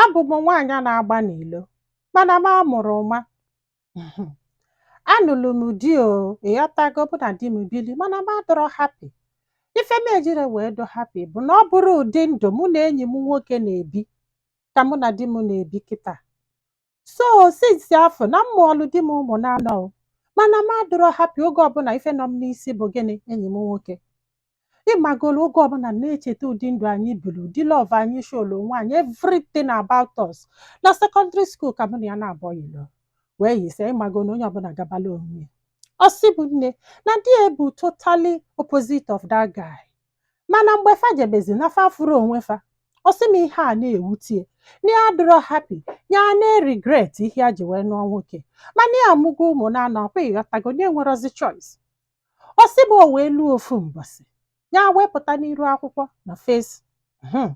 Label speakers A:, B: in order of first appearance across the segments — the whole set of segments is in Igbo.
A: abụ m nwaanyị na-agba n'ilo mana m amụrụ nwa Mhm. anụlụ m di o ịghọtago bụ na di m bili mana m adọrọ happy ife m ejiri wee dụ happy bụ na ọ bụrụ ụdị ndụ mụ na enyi m nwoke na-ebi ka mụ na di m na-ebi kịta so since afụ na m mụọlụ di m ụmụ n'anọ o mana m adịrọ happy oge ọbụla ife nọ m n'isi bụ gịnị enyi m nwoke ịmagolu oge ọbụla m na-echeta ụdị ndụ anyị biri ụdị love anyị showlu onwe anyị everything about us na secondary school ka mụ na ya naabọ yilo wee yise ịmago na onye ọbụla gabala onwe ya ọ sị mụ nne na di ya bụ totally opposite of that guy mana mgbe fa jebezi na fa fụrụ onwe fa ọ sị m ihe a na-ewute ya na ya adịrọ happy ya na-aregret ihe ya ji wee nụọ nwoke mana ya amụgo ụmụ na anọ ọkwa ịghọtago na enwerozi choice ọ sị m o wee luo ofu mbọsị ya wee pụta n'iru akwụkwọ na face mhm,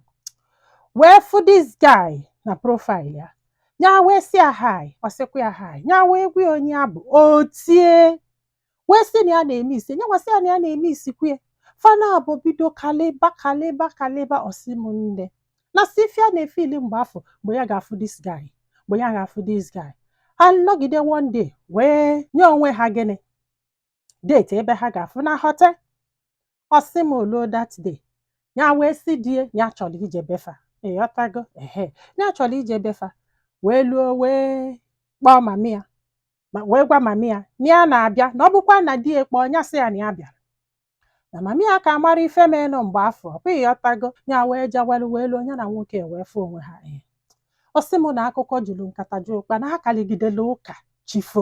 A: wee fụ this guy na profile ya ya wee sị ya hi ọ sịkwa ya hi ya wee gwa ya onye ya bụ o tie wee sị na ya na-emiss ya nyanwa sị ya na ya na-emisskwu ya fa naabọ bido kalịba kalịba kalịba ọ sị m nne na si ife ya na-efeel mgbe afụ mgbe ya ga-afụ this guy mgbe ya ga-afụ this guy anọgide one day wee nye onwe ha gịnị date ebe ha ga-afụ na hotel ọ sị m o luo that day ya wee sị di ya ya chọrọ ije befa ịghọtago ehe ya chọrọ ije befa wee luo wee kpọọ mami ya ma wee gwa mami ya na ya na-abịa na ọ bụkwa na di ya kpọọ ya sị ya na ya bịara na mami ya ka mara ife menụ mgbe afụ ọkwa ịghọtago ya wee jawelu wee luo ya na nwoke wee fụ onwe ha ee ọ sị m na akụkọ juru nkata ju ụkpa na ha kaligidela ụka chi fo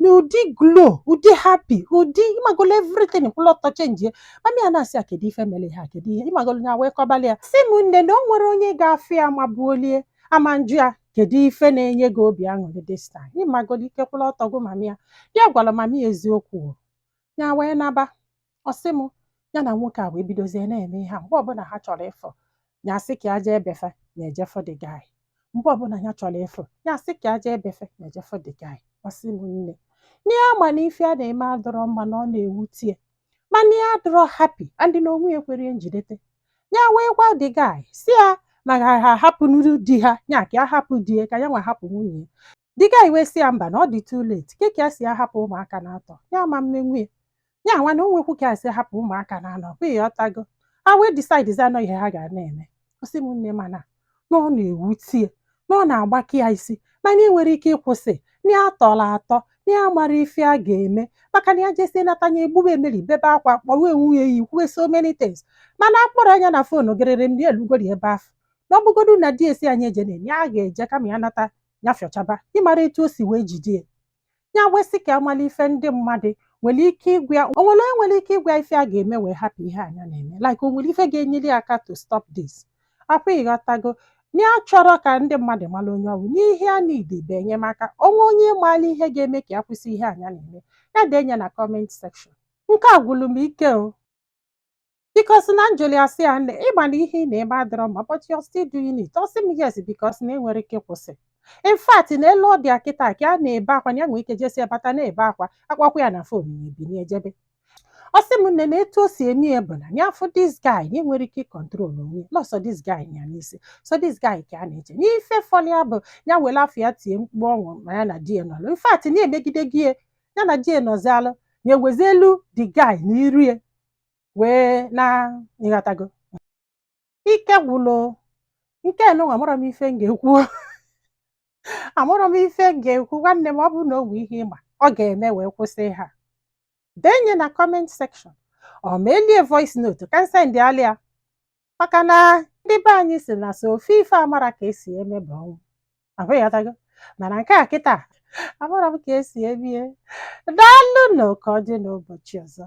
A: n'ụdị glow ụdị happy ụdị ịmagolo everything kwụlụ ọtọ changie mami ya na-asị ya kedu ife mere ihe a kedu ihe ịmagolo ya wee kọbali ya sị m nne na o nwerọ onye ga-afụ ya ma buolie ama njụ ya kedu ife na-enye gị obi aṅụrị this time ịmagolo ike kwụlụ ọtọ gụ mami ya ya gwara mami ya eziokwu o. ya wee naba ọ sị m ya na nwoke a wee bidozie na-eme ihe a mgbe ọbụla ha chọrọ ịfụ ya sị ka ya jee befa ya eje fụ the guy mgbe ọbụla ya chọrọ ịfụ ya sị ka ya jee befa ya eje fụ the guy ọ sị m nne na ya ma na ife a na-eme adọrọ mma na ọ na-ewute ya mana ya adọrọ happy and na onwe ya ekwerọ ya njidete ya wee gwa the guy sị ya na ha ha hapụ nuru di ha ya ka ya hapụ di ya ka ya nwa hapụ nwunye ya the guy wee sị ya mba na ọ dị too late ke ka ya si ahapụ ụmụaka n'atọ ya ama mme nwunye ya nwa na onwekwu ka ya si ahapụ ụmụaka n'anọ kwa ịghọtago ha wee decidezia na ọ ihe ha ga na-eme ọ sị m nne mana na ọ na-ewute ya na ọ na-agbaka ya isi mana enwerọ ike ịkwụsị na ya tọrọ atọ na ya amarọ ife a ga-eme maka na ya jesie nata nya egbube emeri bebe akwa kpọwe nwunye ya ikwuwe so many things mana a kpọrọ nya na foonu gịrịrịm na elugori ebe afụ na ọ bụgodu na di e sị nya ejena ya ga-eje kama ya nata ya fịọchaba ị mara etu o si wee jide ya ya wee sị ka a mala ife ndị mmadụ nwere ike ịgwa ya o nwere onye nwere ike ịgwa ya ife a ga-eme wee hapụ ihe a nya na-eme like o nwere ife ga-enyere ya aka to stop this ọkwa ịghọtago na ya achọrọ ka ndị mmadụ mara onye ọ wụ na ihe ya needi bụ enyemaka o nwee onye maara ihe ga-eme ka ya kwụsị ihe a nya na-eme ya denye na comment section nke a gwụrụ m ike o because na njụli a sị ya nne ị ma na ihe ị na-eme adịrọ mma but you're still doing it ọ sị m yes because na enwerọ ike ịkwụsị in fact na etu ọ dị a kịta ka a na-ebe akwa na ya nwee ike jesie bata na-ebe akwa a kpọkwa ya na fon ya ebinie jebe ọ sị m nne na etu o si eme ya bụ na ya fụ this guy na enwerọ ike ịcontrol onwe ya, na ọ sọ this guy ya n'isi sọ this guy ka a na-eche na ife fọlị ya bụ ya were afa ya tie mkpu ọ wụ ma ya na di ya nọlụ in fact na-emegide gị ya ya na di ya nọzialụ na-ewezi iru the guy na iru ya wee na ịghọtago ike gwụlụ nke nụnwa amarọ m ife m ga-ekwu amarọ m ife m ga-ekwu nwanne m ọ bụrụ na o nwee ihe ị ma ọ ga-eme wee kwụsị ihe a denye na comment section or meeli e voice note ka m sendịalị a maka na ndị be anyị sị na sọ ofu ife amarọ ka esi eme bụ ọnwụ ọkwa ịghọtago mana nke a kịta amarọ m ka esi emie daalụ nụ ka ọ dị n'ụbọchị ọzọ